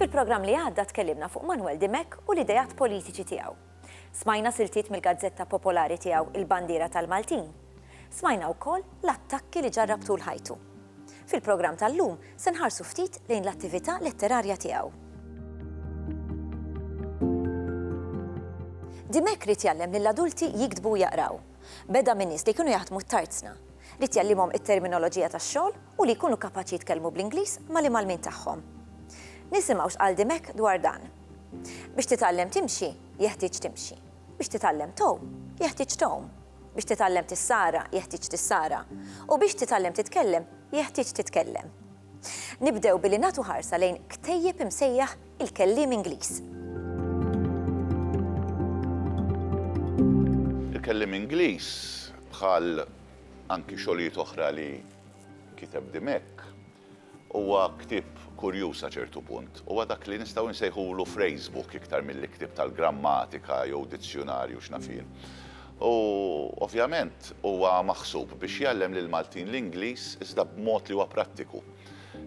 Fil-programm li għadda tkellimna fuq Manuel Dimek u l-idejat politiċi tiegħu. Smajna siltiet mill-gazzetta popolari tiegħu Il-Bandiera tal-Maltin. Smajna wkoll l-attakki li ġarrab tul ħajtu. Fil-programm tal-lum se nħarsu ftit lejn l-attività letterarja tiegħu. Dimech ried jgħallem lill-adulti jiktbu u jaqraw. Beda minn nies li kienu jaħdmu t-tarzna. Ried jgħallimhom it-terminoloġija tax-xogħol u li jkunu kapaċi jitkellmu bl-Ingliż mal-imgħallmin tagħhom. Nisimgħu x'qal Dimech dwar dan. Biex titgħallem timxi, jeħtieġ timxi. Biex titgħallem tgħum, jeħtieġ tgħum. Biex titgħallem tissara, jeħtieġ tissara. U biex titgħallem titkellem, jeħtieġ titkellem. Nibdew billi nagħtu ħarsa lejn ktejjeb imsejjaħ Il-Kelliem Ingliż. Il-Kelliem Ingliż, bħal anki xogħlijiet oħra li kiteb Dimech, Huwa ktieb kurjuż sa ċertu punt. Huwa dak li nistgħu nsejħulu phrasebook iktar milli ktieb tal-grammatika jew dizzjunarju x'naf jien. U, ovvjament, huwa maħsub biex jgħallem lill-Maltin l-Ingliż iżda b'mod li huwa prattiku.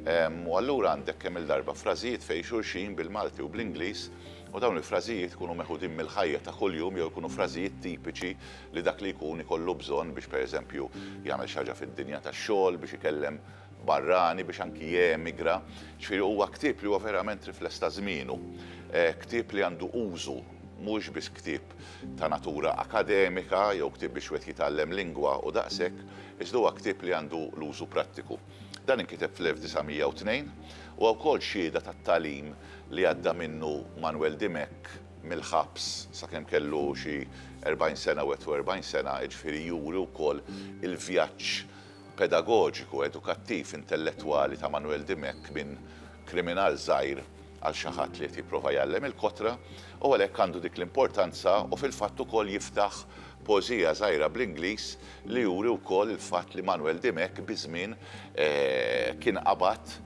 U allura għandek kemm-il darba frażijiet fejn xulxin bil-Malti u bl-Ingliż u dawn il-frażijiet ikunu meħudin mill-ħajja ta' kuljum jew ikunu frażijiet tipiċi li dak li jkun ikollu bżonn biex, pereżempju, jagħmel xi ħaġa fid-dinja tax-xogħol, biex ikellem barrani biex anki jemigra, ġifieri huwa ktieb li huwa verament rifless ta' żmienu, ktieb li għandu użu, mhux biss ktieb ta' natura akademika jew ktieb biex wieħed jitgħallem lingwa u daqshekk, iżda huwa ktieb li għandu l-użu prattiku. Dan inkiteb fl-1902, huwa wkoll xhieda tat-tagħlim li għadda minnu Manwel Dimech mill-ħabs sakemm kellu xi 40 sena u 41 sena, jiġifieri juri wkoll il-vjaġġ pedagoġiku, edukattiv, intellettwali ta' Manuel Dimech minn kriminal żgħir għal xi ħadd li qed jipprova jgħallem il-kotra u għalhekk għandu dik l-importanza u fil-fatt ukoll jiftaħ poeżija żgħira bl-Ingliż li juri wkoll il-fatt li Manuel Dimech biż-żmien kien qabad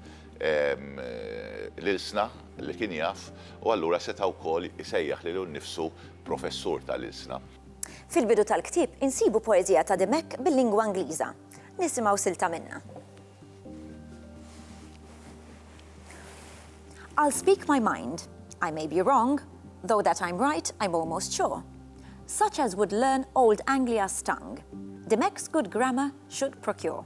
l-ilsna li kien jaf u allura seta' wkoll isejjaħ lilu nnifsu professur tal-ilsna. Fil-bidu tal-ktieb insibu poeżija ta' Dimech bil-lingwa Ingliża. Nisimgħu silta minnha. I'll speak my mind, I may be wrong, though that I'm right I'm almost sure. Such as would learn old Anglia's tongue, Dimech's good grammar should procure.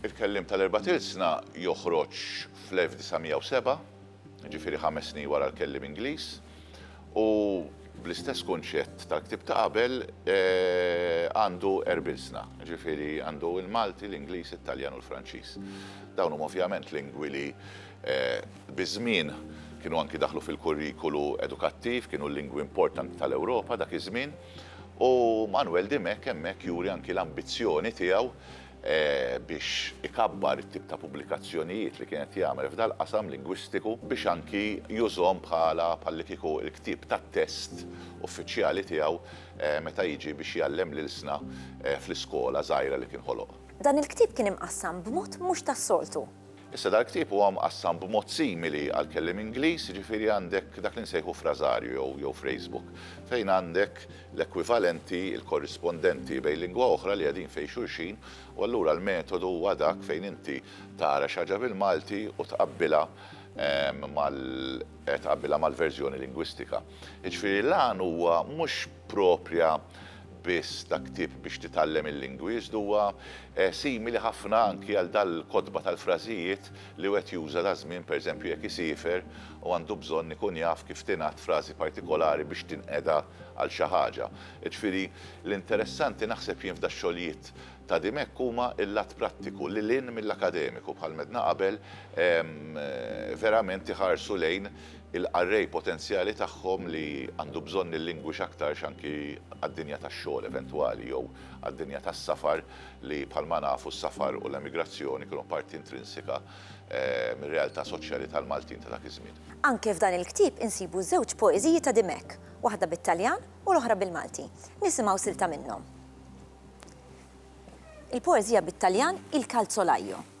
Il-Kelliem tal-Erbat Ilsna joħroġ fl-1907, jiġifieri ħames snin wara l-Kelliem Ingliż, u bl-istess kunċett tal-ktieb ta' qabel għandu Erbilsna, jiġifieri għandu l-Malti, l-Ingliż, it-Taljan u l-Franċiż. Dawn huma ovvjament lingwi li biż-żmien kienu anki daħlu fil-kurrikulu edukattiv, kienu l-lingwi importanti tal-Ewropa dak iż-żmien, u Manwel Dimech hemmhekk juri anki l-ambizzjoni tiegħu biex ikabbar it-tip ta' pubblikazzjonijiet li kien qed jagħmel f'dal-qasam lingwistiku biex anki jużhom bħala bħallikieku l-ktieb tat-test uffiċjali tiegħu meta jiġi biex jgħallem l-ilsna fl-iskola żgħira li kien ħoloq. Dan il-ktieb kien imqassam b'mod mhux tas-soltu. Issa dal-ktieb huwa mqassam b'mod simili għall-kelliem Ingliż, jiġifieri għandek dak li nsejħu frażarju jew jew phrasebook, fejn għandek l-ekwivalenti, il-korrispondenti bejn lingwa oħra li qegħdin fejn xulxin u allura l-metodu huwa dak fejn inti tara xi ħaġa bil-Malti u tqabbilha mal tqabbilha mal-verżjoni lingwistika. Jiġifieri l-għan huwa mhux proprja biss ta' ktieb biex titgħallem il-lingwi, iżda huwa simili ħafna anki għal dal-kotba tal-frażijiet li wieħed juża daż-żmien pereżempju jekk isiefer u għandu bżonn ikun jaf kif tingħad frażi partikolari biex tinqeda għal xi ħaġa. Jiġifieri, l-interessanti naħseb jien f'dax-xogħlijiet ta' Dimech huma l-lat prattiku lil hinn mill-akademiku, bħalma għedna qabel, verament iħarsu lejn il-qarrej potenzjali tagħhom li għandu bżonn il-lingwi x'aktarx anki għad-dinja tax-xogħol eventwali jew għad-dinja tas-safar li bħalma nafu s-safar u l-emigrazzjoni kienu parti intrinsika mir-realtà soċjali tal-Maltin ta' dak iż-żmien. Anke f'dan il-ktieb insibu żewġ poeżiji ta' Dimech, waħda bit-Taljan u l-oħra bil-Malti. Nisimgħu silta minnhom. Il-poeżija bit-Taljan Il calzolaio.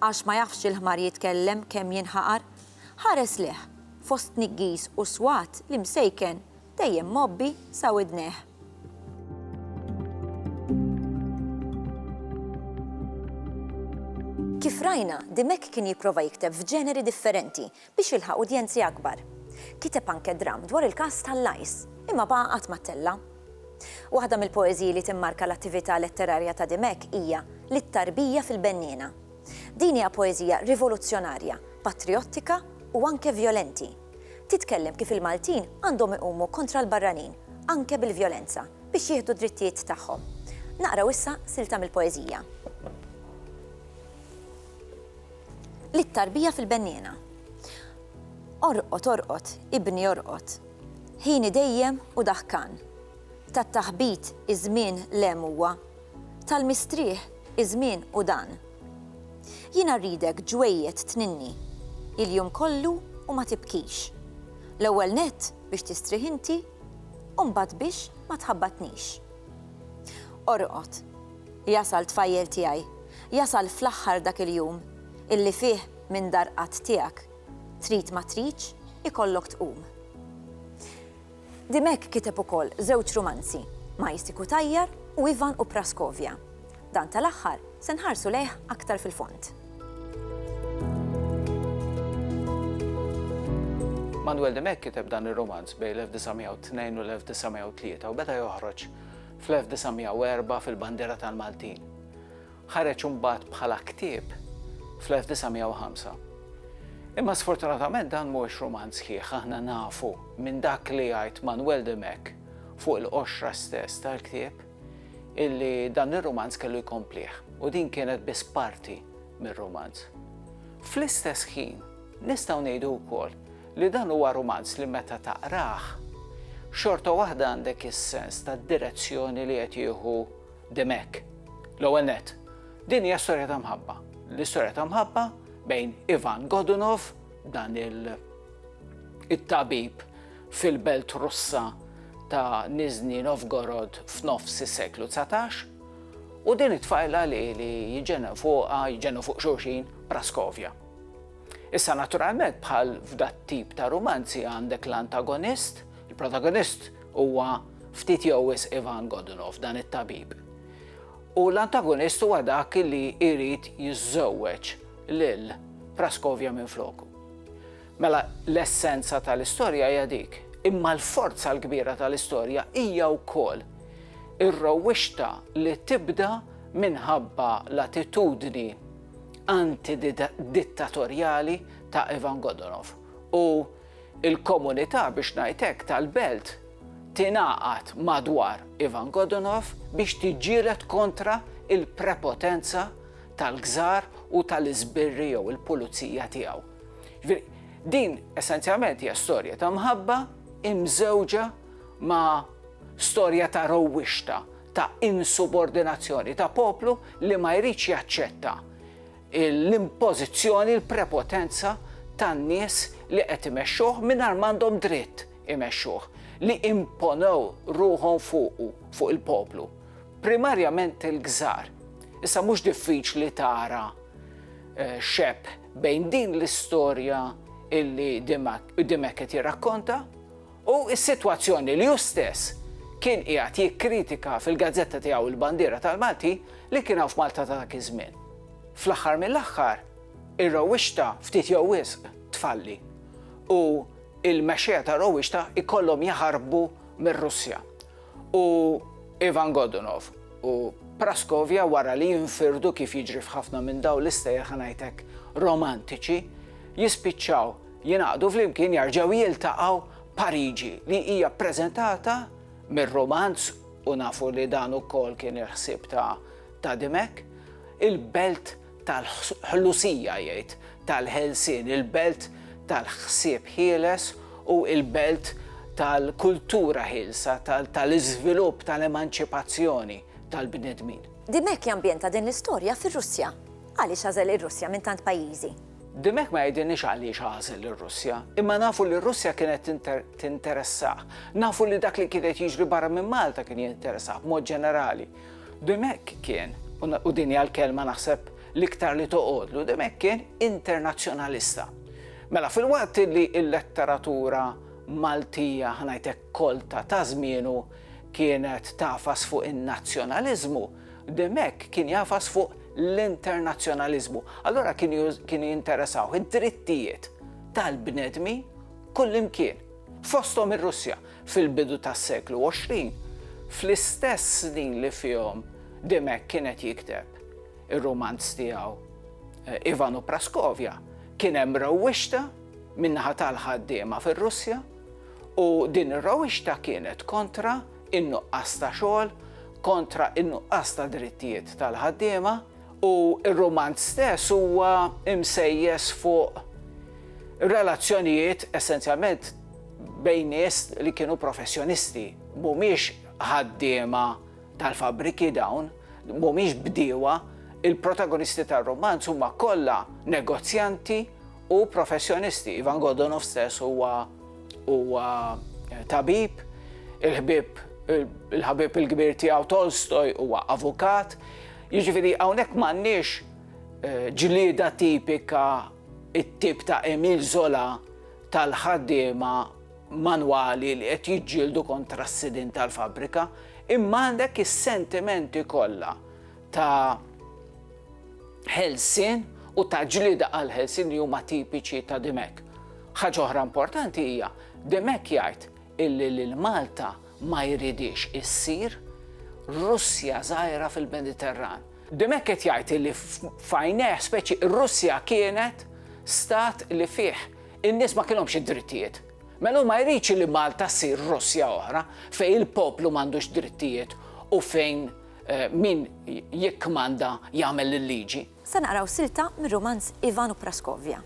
Għax ma jafx il-ħmar jitkellem kemm jinħaqar? Ħares lejh, fost tniggis u swat li msejken dejjem mgħobbi sa widnejh. Kif rajna, Dimech kien jipprova jikteb f'ġeneri differenti, biex jilħaq udjenzi akbar. Kiteb anke dramm dwar il-każ tal-Lajs, imma baqa' qatt ma ttella'. Waħda mill-poeżiji li timmarka l-attività letterarja ta' Dimech hija Lit-Tarbija fil-Benniena. Din hija poeżija rivoluzzjonarja, patrijottika u anke vjolenti. Titkellem kif il-Maltin għandhom iqumu kontra l-barranin, anke bil-vjolenza, biex jieħdu d-drittijiet tagħhom. Naqraw issa silta mill-poeżija. Lit-tarbija fil-benniena. Orqod, orqod, ibni orqod. Ħini dejjem u daħkan. Tat-taħbit iż-żmien l-hemm huwa. Tal-mistrieħ iż-żmien hu dan. Jiena rridek ġwejjed tninni. Il-jum kollu u ma tibkix. L-ewwel nett biex tistrieħ inti u mbagħad biex ma tħabbatnix. Orqod, Jasal tfajjel tiegħi, jasal fl-aħħar dak il-jum, illi fih minn dar qatt tiegħek, trid ma tridx, ikollok tqum. Dimech kiteb ukoll żewġ rumanzi, Majsi Cutajar u Ivan u Praskovja. Dan tal-aħħar se nħarsu lejh aktar fil-fond. Manuel Dimech kiteb dan ir-rumanz bejn l-1902 u l-1903 u beda joħroġ fl-1904 fil-Bandiera tal-Maltin. Ħareġ imbagħad bħala ktieb fl-1905. Imma sfortunatament dan mhuwiex rumanz sħiħ aħna nafu minn dak li jgħid Manwel de Mech fuq il-qoxra stess tal-ktieb illi dan ir-rumanz kellu jkomplih u din kienet biss parti mir-rumanz. Fl-istess ħin, Nistgħu ngħidu wkoll li dan huwa rumanz li meta taqrah, xorta waħda għandek is-sens tad-direzzjoni li qed jieħu Dimech. L-ewwel nett, din hija storja ta' mħabba. L-istorja ta' mħabba bejn Ivan Godunov, dan il-tabib fil-belt Russa ta' Nizhny Novgorod f'nofs is-seklu 19, u din it-tfajla li jġennu fuqha, jġennu fuq xulxin, Praskovja. Issa naturalment bħal f'dat-tip ta' rumanzi għandek l-antagonist, il-protagonist huwa ftit jew wisq Ivan Godunov dan it-tabib. U l-antagonist huwa dak li jrid jiżżewweġ lil Praskovja minn floku. Mela l-essenza tal-istorja hija dik, imma l-forza l-kbira tal-istorja hija wkoll ir-rowwixta li tibda minħabba l-attitudni antidittatorjali ta' Ivan Godunov u l-komunità biex ngħid hekk tal-belt tingħaqad madwar Ivan Godunov biex tiġġieled kontra l-prepotenza tal-Kżar u tal-iżbirri jew il-pulizija tiegħu. Din essenzjalment hija storja ta' mħabba imżewġa ma' storja ta' rowwixta ta' insubordinazzjoni ta' poplu li ma jridx jaċċetta l-impożizzjoni, l-prepotenza tan-nies li qed imexxuh mingħajr m'għandhom dritt imexxuh, li imponew ruħhom fuqu, fuq il-poplu. Primarjament il-gżar. Issa mhux diffiċli tara xebh bejn din l-istorja illi Dimech qed jirrakkonta, U s-sitwazzjoni li hu stess kien qiegħed jikkritika fil-gazzetta tiegħu Il-Bandiera tal-Maltin li kien hawn f'Malta ta' dak iż-żmien. Fl-aħħar mill-aħħar, ir-rewwixta ftit jew wisq tfalli u l-mexxejja tar-rewwixta jkollhom jaħarbu mir-Russja. U Ivan Godunov u Praskovja wara li jinfirdu kif jiġri f'ħafna minn dawn l-istejjer ħa ngħidlek romantiċi, jispiċċaw Jingħaqdu flimkien jarġgħu jiltaqgħu Pariġi li hija ppreżentata mir-rumanz u nafu li dan ukoll kien il-ħsieb ta' ta' Dimech, il-belt tal-ħlusija jgħid, tal-ħelsien, il-belt tal-ħsieb ħieles u l-belt tal-kultura ħielsa, tal-iżvilupp, tal-emanċipazzjoni tal-bnedmin. Dimech jambjenta din l-istorja fir-Russja. Għaliex għażel ir-Russja minn tant pajjiżi? Din hekk ma jgħidilniex għaliex għażel lir-Russja, imma nafu li r-Russja kienet tinteressah. Nafu li dak li kien qed jiġri barra minn Malta kien jinteressah b'mod ġenerali. Din hekk kien, u din hija l-kelma naħseb l-iktar li toqgħodlu, din hekk kien internazzjonalista. Mela filwaqt li l-letteratura Maltija, ħa ngħid hekk, kolta ta' żmienu kienet tagħfas fuq in-nazzjonaliżmu, Demek kien jagħfas fuq l-internazzjonaliżmu. Allura kienu jinteressawh id-drittijiet tal-bnedmin kullimkien, fosthom ir-Russja, fil-bidu tas-seklu 20, fl-istess snin li fihom Demek kien qed jikteb ir-rumanz tiegħu Ivan u Praskovja, kien hemm rewwixta min-naħa tal-ħaddiema fir-Russja u din ir-rewwixta kienet kontra in-nuqqas ta' xogħol kontra n-nuqqas ta' drittijiet tal-ħaddiema u r-rumanz stess huwa msejjes fuq relazzjonijiet essenzjalment bejn nies li kienu professjonisti, mhumiex ħaddiema tal-fabbriki dawn, mhumiex bdiewa, il-protagonisti tar-rumanz huma kollha negozjanti u professjonisti. Ivan Godunov stess huwa huwa eh, tabib, il-ħbib il-ħabib il-kbir tiegħu Tolstoj huwa avukat. Jiġifieri hawnhekk m'għandniex eh, ġlieda tipika it-tip ta' Emil Zola tal-ħaddiema manwali li qed jiġġieldu kontra s-sidin tal-fabrika, imma għandek is-sentimenti kollha ta' ħelsien u ta' ġlieda għall-ħelsien li huma tipiċi ta' Dimech. Ħaġa oħra importanti hija, Dimech jgħid illi lil Malta ma jridhiex issir Russja żgħira fil-Mediterran. Dimech qed jgħid illi f'għajnejh speċi r-Russja kienet stat li fih in-nies ma kienhomx id-drittijiet. Mela hu ma jridx li Malta ssir Russja oħra fejn il-poplu m'għandux drittijiet u fejn Min jikkmanda jagħmel il-liġi. Se naqraw silta mir-rumanz Ivan u Praskovja.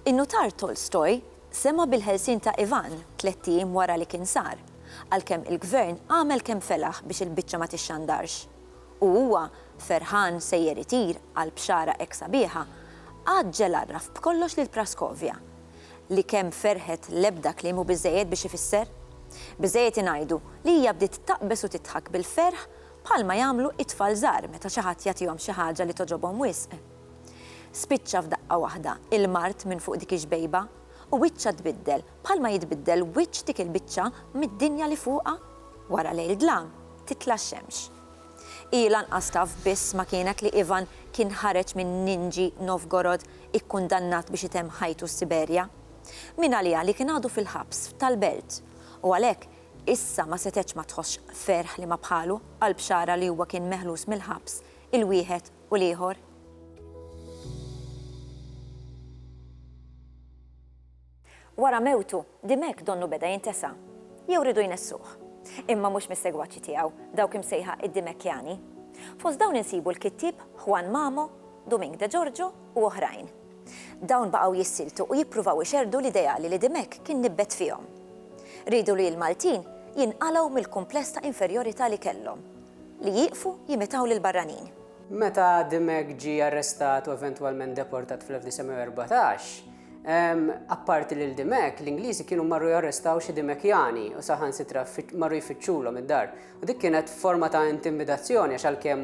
In-nutar Tolstoj sema' bil-ħelsien ta' Ivan tlett ijiem wara li kien sar, għalkemm il-gvern għamel kemm felaħ biex il-biċċa ma tixxandarx, u huwa, ferħan sejjer itir għall-bxara hekk sabiħa, għaġġel għarraf b'kollox lil Praskovja. li kemm ferħet l-ebda kliem hu biżżejjed biex ifisser. Biżżejjed ingħidu li hija bdiet taqbeż u tidħak bil-ferħ bħalma jagħmlu it-tfal żgħar meta xi ħadd jagħtihom xi ħaġa li togħġobhom wisq. Spiċċa f'daqqa waħda il-mard minn fuq dik ix-xbejba u wiċċha tbiddel bħalma jitbiddel wiċċ dik il-biċċa mid-dinja li fuqha. Wara lejl dlam, titla' x-xemx. Hi lanqas taf biss ma kienet li Ivan kien ħareġ minn Ninji Novgorod ikkundannat biex itemm ħajtu s-Siberja. Min għaliha li kien għadu fil-ħabs f'tal-belt. U għalhekk, issa ma setgħetx ma tħossx ferħ li ma bħalu, għall-bxara li huwa kien meħlus mill-ħabs, il-wieħed u l-ieħor. Wara mewtu, di m'hekk donnu beda jintesa'? Jew riedu jnessuh? Imma mhux mis-segwaċi tiegħu, dawk imsejħa id-Dimekkjani. Fost dawn insibu l-kittieb Juan Mamo, Dumink de Giorgio u oħrajn. Dawn baqgħu jissiltu u jippruvaw ixerrdu l-ideali li Dimech kien nibbet fihom. Riedu li l-Maltin jinqalgħu mill-kumpless ta' inferjorità li kellhom, li jieqfu jimitaw lill-barranin. Meta Dimech ġie arrestat u eventwalment deportat fl-1914, Apparti lil Dimek, l-Ingliżi kienu marru jarrestaw xi Dimekjani u saħan sitra marru jfittxulhom id-dar. U dik kienet forma ta' intimidazzjoni għax għalkemm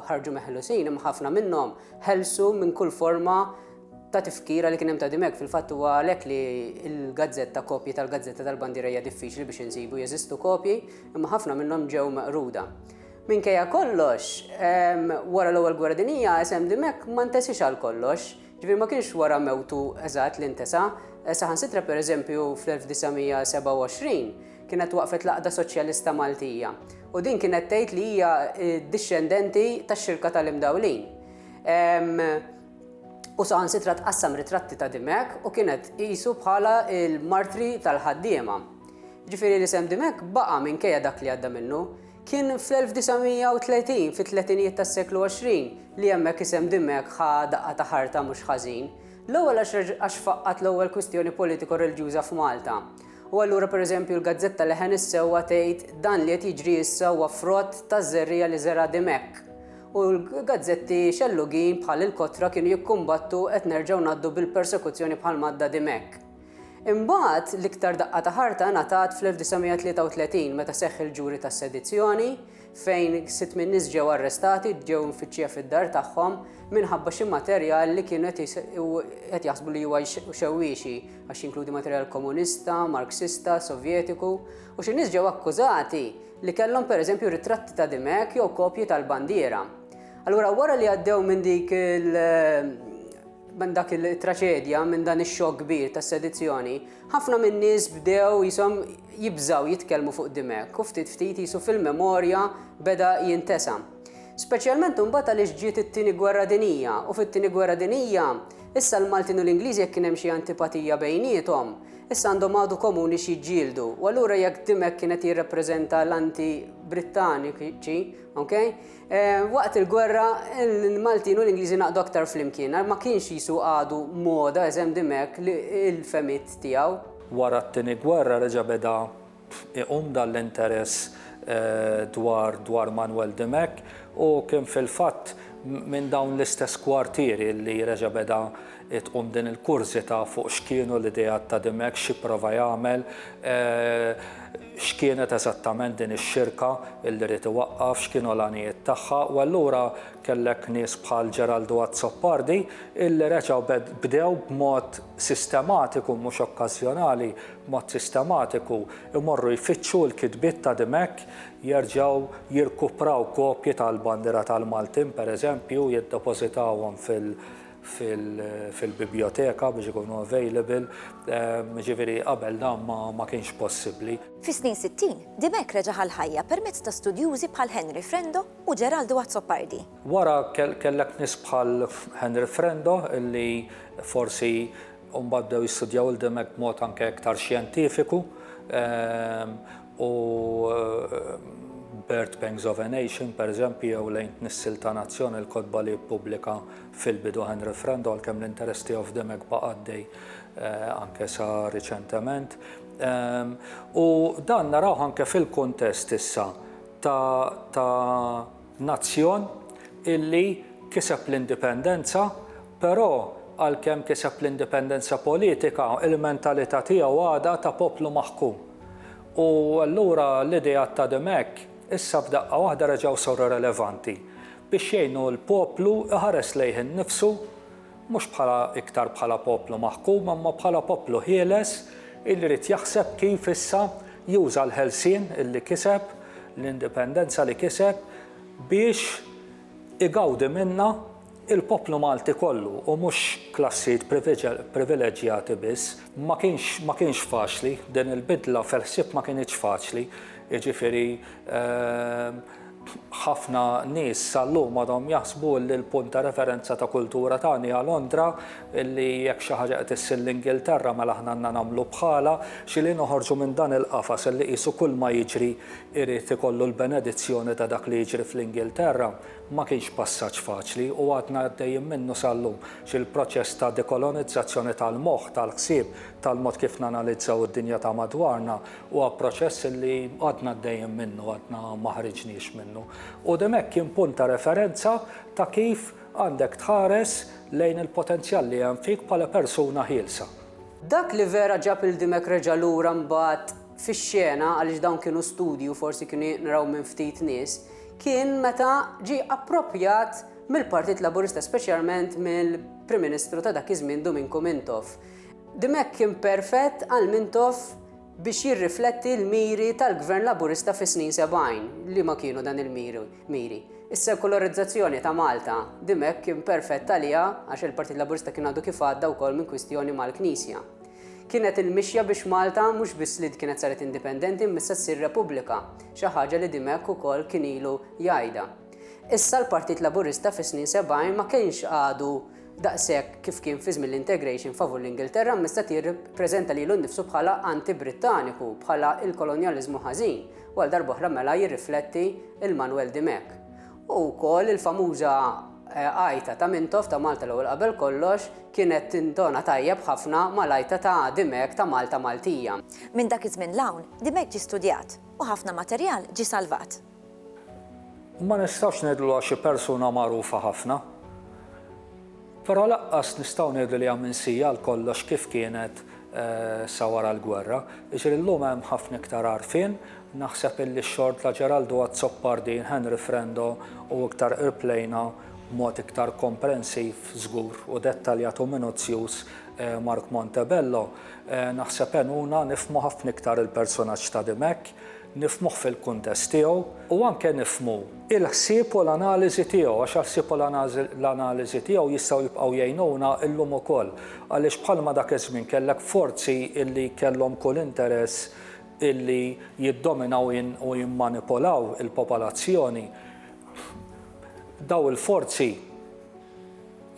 ħarġu meħlusin imma ħafna minnhom ħelsu minn kull forma ta' tifkira li kien hemm ta' Dimek fil-fatt huwa għalhekk li l-gazzetta kopji tal-gazzetta tal-bandiera hija diffiċli biex insibu jeżistu kopji imma ħafna minnhom ġew meqruda. Minkejja kollox, wara l-Ewwel Gwerra Dinjija isem Dimek ma ntesiex għal kollox. Ġifieri ma kienx wara mewtu eżatt li ntesa', saħansitra pereżempju fl-1927 kienet waqfet l-Għaqda Soċjalista Maltija u din kienet tgħid li hija dixxendenti tax-Xirka tal-Imdawlin. U saħansitra tqassam ritratti ta' Dimech u kienet tqisu bħala l-martri tal-ħaddiema. Ġifieri l-isem Dimech baqa' minkejja dak li għadda minnu. Kien fl-1930, fit-tletinijiet tas-seklu 20, li hemmhekk isem Dimech ħa daqqa ta' ħarta mhux ħażin. L-ewwel għax faqqgħet l-ewwel kwistjoni politiko-reliġjuża f'Malta. U allura pereżempju l-gazzetta Leħen is-Sewwa tgħid dan li qed jiġri issa huwa frott taż-żerriegħa li żera' Dimech. U l-gazzetti xellugin bħal Il-Kotra kienu jikkumbattu qed nerġgħu ngħaddu bil-persekuzzjoni bħal m'għadda Dimech. Imbagħad, l-iktar daqqa ta' ħarta ngħatat fl-1933 meta seħħ il-ġuri tas-sedizzjoni, fejn sitt min-nies ġew arrestati, ġew imfittxija fid-dar tagħhom minħabba xi materjal li kienu qed jaħsbu li huwa xewwiexi, għax jinkludi materjal Komunista, Marksista, Sovjetiku, u xi nies ġew akkużati li kellhom pereżempju ritratti ta' Dimech jew kopji tal-bandiera. Allura wara li għaddew minn dik il- Minn dak il-traċedja, minn dan ix-xokk kbir tas-sedizzjoni, ħafna min-nies bdew jisom jibżgħu jitkellmu fuq Dimech u ftit ftit qisu fil-memorja beda jintesa. Speċjalment imbagħad għaliex ġiet it-Tieni Gwerra Dinjija u fit-Tieni Gwerra Dinjija issa l-Maltin u l-Ingliżi jekk kien hemm xi antipatija bejniethom, issa għandhom għadu komuni x'jiġġieldu u allura jekk Dimech kien qed jirrappreżenta l-anti-Brittaniċi, ok? Waqt il-gwerra, il-Maltin u l-Ingliżi naqdu aktar flimkien. Ma kienx Ġisu għadu moda eżemm di mekk li il-fehmiet tiegħu. Wara t-tieni gwerra reġa' beda iqum dan l-interess dwar dwar Manwel di mekk u kien fil-fatt minn dawn l-istess kwartieri li reġa' beda tqum din il-kurżità fuq x'kienu l-ideat ta' Dimech, x'ipprova jagħmel, x'kienet eżattament din ix-xirka li ried iwaqqaf, x'kienu l-għanijiet tagħha u allura kellek nies bħal Geraldo Azzopardi illi reġgħu bdew b'mod sistematiku mhux okkażjonali, b'mod sistematiku jmorru jfittxu l-kitbiet ta' Dimech, jerġgħu jirkupraw kopji tal-bandiera tal-Maltin pereżempju, jiddepożitawhom fil, fil-bibljoteka biex ikunu available, jiġifieri qabel dan ma kienx possibbli. Fis-snin sittin, Dimech reġa' ħa l-ħajja permezz ta' studjużi bħal Henry Frendo u Geraldo Azzopardi. Wara kellek nies bħal Henry Frendo li forsi mbagħad bdew jistudjaw lil Dimech b'mod anke iktar xjentifiku. u Bird Pangs of a Nation, pereżempju, jew Lejn Tnissil ta' Nazzjon, il-kotba li ppubblika fil-bidu Henry Friend, għalkemm l-interess tiegħu f'The Meg baqa' għaddej anke sa riċentement. U dan narawh anke fil-kuntest issa ta' Nazzjon illi kiseb l-indipendenza, però għalkemm kiseb l-indipendenza politika, il-mentalità tiegħu għadha ta' poplu maħkum. U allura l-ideat ta' Dimech issa f'daqqa waħda reġgħu saru relevanti biex jgħinu l-poplu jħares lejh innifsu Mhux bħala iktar bħala poplu maħkum imma bħala poplu ħieles illi jrid jaħseb kif issa juża l-ħelsien illi kiseb, l-indipendenza li kiseb biex igawdi minnha il-poplu Malti kollu u mhux klassijiet privileġġjati biss. Ma kienx ma kienx faċli, din il-bidla fil-ħsieb ma kinitx faċli, jiġifieri Ħafna nies sal-lum għadhom jaħsbu li l-punt ta' referenza ta' kultura tagħna hija Londra, li jekk xi ħaġa qed issir l-Ingilterra mela aħna għandna nagħmlu bħalha. Xi li noħorġu minn dan il-qafas li qisu kulma jiġri jrid ikollu l-benedizzjoni ta' dak li jiġri fl-Ingilterra ma kienx passaġġ faċli u għadna għaddejjin minnu sal-lum. Xi l-proċess ta' dekolonizzazzjoni tal-moħħ, tal-ħsieb, tal-mod kif nanalizzaw id-dinja ta' madwarna Huwa proċess li għadna għaddejjin minnu, għadna ma ħriġniex minnu. U din hekk kien punt ta' referenza ta' kif għandek tħares lejn il-potenzjal li hemm fik bħala persuna ħielsa. Dak li vera ġab 'il Dimech reġa' lura mbagħad fix-xena, għaliex dawn kienu studji u forsi kienu jinqraw minn ftit nies, kien meta ġie approprjat mill-Partit Laburista speċjalment mill-Prim Ministru ta' dak iż-żmien Duminku Mintoff. Dimech kien perfett għal Mintoff. biex jirrifletti l-miri tal-Gvern Laburista fis-snin sebgħin. Liema kienu dan il-miri? Is-sekularizzazzjoni ta' Malta. Dimech kien perfett għaliha għax il-Partit Laburista kien għadu kif għadda wkoll minn kwistjoni mal-Knisja. Kienet il-mixja biex Malta mhux biss li kienet saret indipendenti imma issa ssir Repubblika, xi ħaġa li Dimech ukoll kien ilu jgħidha. Issa l-Partit Laburista fis-snin sebgħin ma kienx għadu daqshekk kif kien fi żmien l-integration favur l-Ingilterra mista ti rrippreżenta lilu nnifsu bħala anti-Brittaniku, bħala il-kolonjaliżmu ħażin, u għal darba oħra mela jirrifletti il-Manwel Dimech. U wkoll il-famuża eh, għajta ta' Mintoff ta' Malta l-ewwel qabel kollox kienet tintona tajjeb ħafna mal-għajta ta' Dimech ta' Malta Maltija. Minn dak iż-żmien l-hawn, Dimech ġie studjat u ħafna materjal ġie salvat. Ma nistgħux ngħidu li huwa xi persuna magħrufa ħafna. Però lanqas nistgħu ngħidu li hija minsija għal kollox kif kienet sa wara l-gwerra. Jiġifieri llum hemm ħafna iktar għarfien, naħseb illi x-xogħol ta' Geraldo Azzopardi, Henry Frendo u iktar qrib lejna b'mod iktar komprensiv żgur u dettaljat u minuzzjuż Mark Montebello, naħseb għenuna nifhmu ħafna iktar il-persunaġġ ta' Dimech. nifhmuh fil-kuntest tiegħu u anke nifhmu l-ħsieb u l-analiżi tiegħu għax il-ħsieb u l-analiżi tiegħu jistgħu jibqgħu jgħinuna llum ukoll għaliex bħalma dak iż-żmien kellek forzi li kellhom kull interess li jiddominaw u jimmanipulaw il-popolazzjoni dawn il-forzi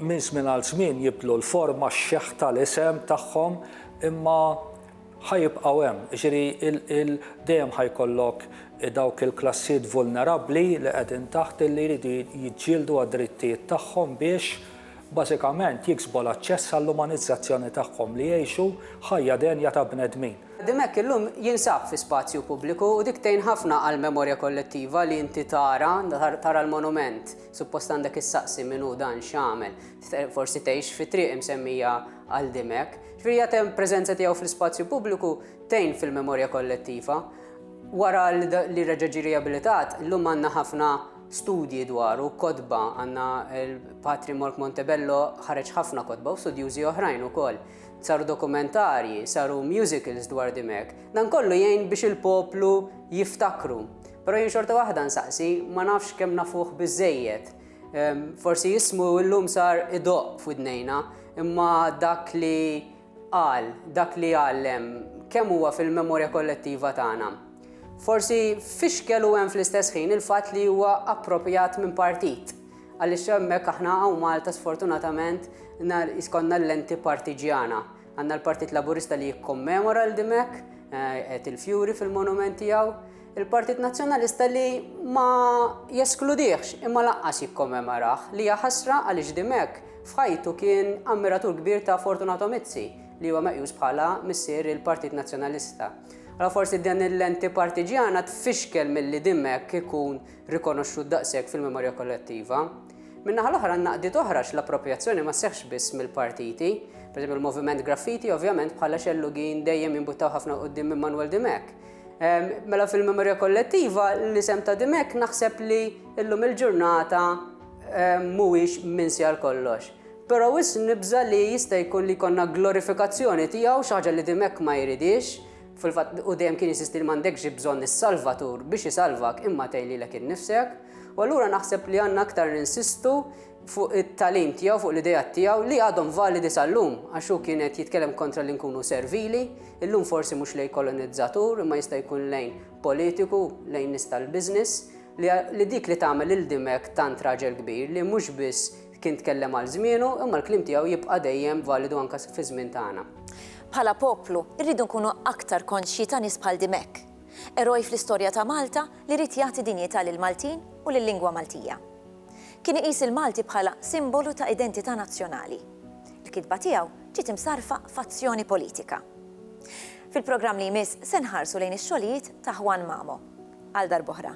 minn żmien għal żmien jibdlu l-forma, x-xeħta, l-isem tagħhom imma ħa jibqgħu hemm. Jiġifieri dejjem ħa jkollok dawk il-klassijiet vulnerabbli li qegħdin taħt illi jridu jiġġieldu għad-drittijiet tagħhom biex bażikament jiksbu l-aċċess għall-umanizzazzjoni tagħhom, li jgħixu ħajja denja ta' bnedmin. Ħaddim hekk illum jinsab fi spazju pubbliku u dik tgħin ħafna għall-memorja kollettiva li inti tara, tara l-monument. Suppost għandek issaqsi min hu dan x'għamel. Forsi tgħix fit-triq imsemmija għal Dimech. Firja temm preżenza tiegħu fl-ispazju pubbliku tgħin fil-memorja kollettiva. Wara li reġa' ġie riabilitat, illum għandna ħafna studji dwaru, kotba, għandna l-Patri Mork Montebello ħareġ ħafna kotba u studjużi oħrajn ukoll. Saru dokumentarji, saru musicals dwar Dimech. Dan kollu jgħin biex il-poplu jiftakru. Però jien xorta waħda nsaqsi, ma nafx kemm nafuh biżżejjed. Forsi jismu illum sar idoq f'widnejna, imma dak li qal, dak li għallem, kemm huwa fil-memorja kollettiva tagħna. Forsi fixkel u hemm fl-istess ħin il-fatt li huwa approprjat minn partit, għaliex hemmhekk aħna hawn Malta sfortunatament jiskonna l-lenti partiġjana. Għandna l-Partit Laburista li jikkommemora l dimek, eh, qed il-fjuri fil-monument tiegħu, Il-Partit Nazzjonalista li ma jeskludihx imma lanqas jikkommemorah li hija ħasra għaliex Dimech f'ħajtu kien ammiratur kbir ta' Fortunato Mizzi li huwa meqjus bħala missier il-Partit Nazzjonalista. Allora forsi din il-lenti partiġjana tfixkel milli Dimech ikun rikonoxxut daqshekk fil-memorja kollettiva. Min-naħa l-oħra għandna qdiet oħra għax l-approprjazzjoni ma sseħħx biss mill-partiti. Per il-Moviment Graffiti ovvjament bħala xellugin dejjem jimbuttaw ħafna quddiem minn Manwel Dimech. Mela fil-memorja kollettiva l-isem ta' Dimek naħseb li illum il-ġurnata mhuwiex minn sjar kollox. Però wis nibża li jista' jkun li jkollna glorifikazzjoni tiegħu xi ħaġa li Dimek ma jridhiex, fil-fatt hu dejjem kien jinsisti li m'għandekx bżonn is-Salvatur biex isalvak imma tgħin lilek innifsek. U allura naħseb li għandna aktar ninsistu fuq it-tagħlim tiegħu, fuq l-ideat tiegħu li għadhom validi sal-lum, għax hu kien qed jitkellem kontra li nkunu servili, illum forsi mhux lejn kolonizzatur imma jista' jkun lejn politiku, lejn nies tal-business, li li dik li tagħmel lil Dimech tant raġel kbir li mhux biss kien tkellem għal żmienu imma l-kliem tiegħu jibqa' dejjem validu anke fiż-żmien tagħna. Bħala poplu, irridu nkunu aktar konxji ta' nies bħal Dimech. Eroj fl-istorja ta' Malta li ried jagħti dinjità lill-Maltin u lil-lingwa Maltija. Kien iqis il-Malti bħala simbolu ta' identità nazzjonali. Il-kitba tiegħu ġiet imsarrfa f'azzjoni politika. Fil-programm li jmiss se nħarsu lejn ix-xogħlijiet ta' Juan Mamo. Għal darb'oħra.